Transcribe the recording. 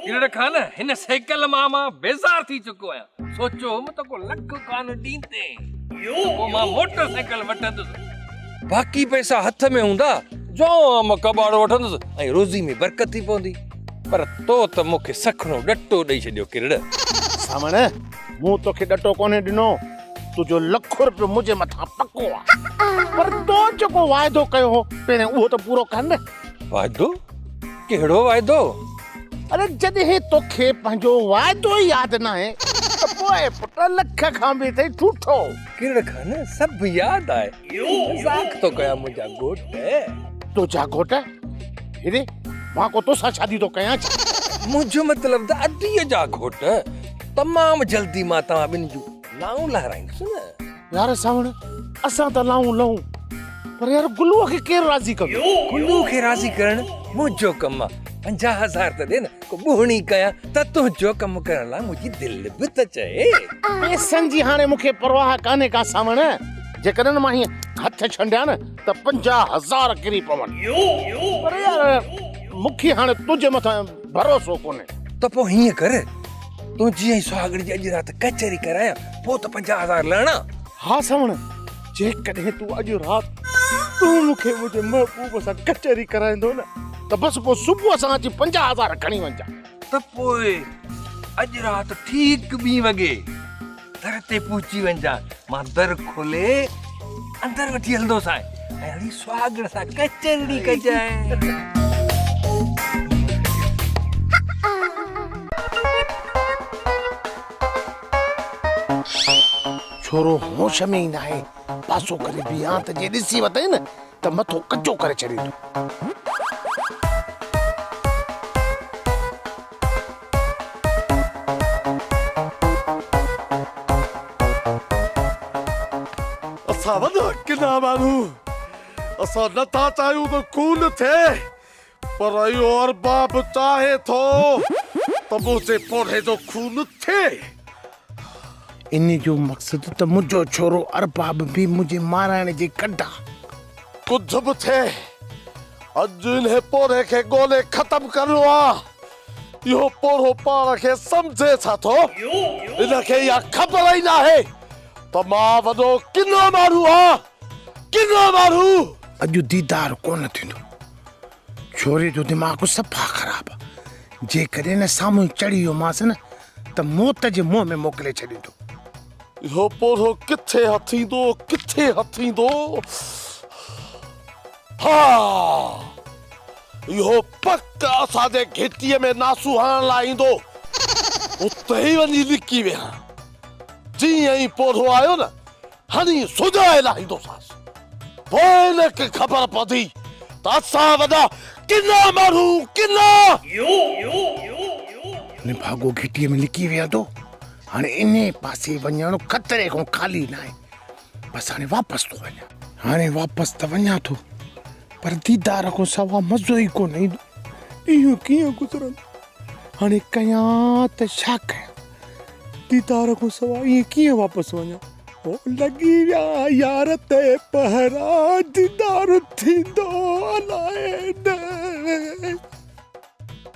ڪيڙهڙ خان هن سيڪل مان مان بيزار ٿي چڪو آهيان سوچيو هوم ته ڪو لک کان ڏيندي پوء مان موٽر سائيڪل وٺندس باقي پئسا هٿ ۾ هوندا جو مان ڪٻاڙو وٺندس ۽ روزي ۾ برڪت ٿي پوندي پر تو ته مون کي سکڻو ڏٽو ڏئي ڇڏيو ڪيڙهڙ سامڻ مون توکي ڏٽو ڪونهي ڏنو تنهنجو لک روپيو منهنجي مٿان پڪو آهي پر تو جيڪو واعدو ڪيو هو پهرين اهو ته پورو ڪر نه واعدو ڪهڙو واعدو؟ اڙي جڏهن توکي پنهنجو واعدو ئي ياد ناهي ته پوء پٽ لک کان به اٿئي ٺوٺو. ڪهڙ کان سڀ ياد آهي. مذاق ٿو ڪيان منهنجا گهوٽ. تنهنجا گهوٽ؟ هيڏي مان ڪو توسان شادي ٿو ڪيان ڇا؟ منهنجو مطلب ته اديء جا گهوٽ. تمام جلدي مان توهان ٻنهي جون نائون لهرائيندس نه. يار ساوڻ اسان ته لائون لئون پر يار گلو کي ڪير راضي ڪندو گلو کي راضي ڪرڻ منهنجو ڪم آ پنجاهه هزار ته ڏي نه ڪو ٻوهڻي ڪيان ته تنهنجو ڪم ڪرڻ لاء منهنجي دل به ته چئي پئسن جي هاڻي مون کي پرواهه ڪانهي ڪا ساوڻ جيڪڏهن مان هيئن هٿ ڇنڊيان نه ته پنجاهه هزار ڪري پون پر يار مون کي هاڻي تنهنجي مٿان ڀروسو ڪونهي ته پوء هيئن ڪر تون جي ۽ سهاڳڙي جي اڄ رات ڪچهري ڪرايان پوء ته پنجاهه هزار لهڻا ها سوڻ جيڪڏهن تون اڄ رات تون مون کي منهنجي محبوب سان ڪچهري ڪرائيندو نه ته بس پوء صبح سان اچي پنجاهه هزار کڻي وڃجان ته پوء اڄ رات ٺيڪ ٻي وڳي در تي پهچي وڃجان مان در کولي اندر وٺي هلندوسانء ۽ اڙي سهاڳڻ سان ڪچهرڙي ڪجانء ڇورو هوش ۾ ئي ناهي پاسو ڪري بيهه ها ته جي ڏسي ورتئي نه ته مٿو ڪچو ڪري ڇڏيندو اسان وڏا ڪنا ماڻهو اسان نه ٿا چاهيون ته خون ٿئي پر اهو ارباب چاهي ٿو ته منهنجي پوڙهي جو خون ٿئي انهي جو مقصد ته منهنجو ڇورو ارباب به منهنجي مارائڻ جي ڪڍ آ. ڪجهه به ٿئي اڄ انهي پورهئي کي ڳولي ختم ڪرڻو آ. اهو پورهئو پاڻ کي سمجهي ڇا ٿو؟ ان کي اها خبر ئي ناهي ته مان وڏو ڪنو ماڻهو آ. ڪنو ماڻهو! اڄ ديدار ڪونه ٿيندو. ڇوري جو دماغ صفا خراب آ جيڪڏهن نه سامهون چڙهي ويو مانس نه ته موت جي منهن ۾ موڪلي ڇڏيندو. اهو پورهيو ڪٿي هٿ ايندو ڪٿي هٿ ايندو ها اهو پڪ اسان جي گهٽي ۾ ناسو هڻڻ لاء ايندو اتي ئي وڃي لڪي ويهان جيئن ئي پورهيو آيو نه هني سوگاء لاهيندوسانس. پوء هن کي خبر پوندي ته اسان وڏا ڪنا ماڻهو ڪنا. هن ڀاڳو گهٽيء ۾ لڪي ويهندو. هاڻي انهيء پاسي وڃڻ خطري کان خالي ناهي. بس هاڻي واپس ٿو وڃان. هاڻي واپس ته وڃان ٿو، پر ديدار کان سواء مزو ئي ڪونه ايندو. ڏينهن ڪيئن گذرندو؟ هاڻي ڪيان ته ڇا ڪيان؟ ديدار کان سواء ائين ڪيئن واپس وڃان؟ هو لڳي ويا يار تي پهرا، ديدار ٿيندو الائي نه.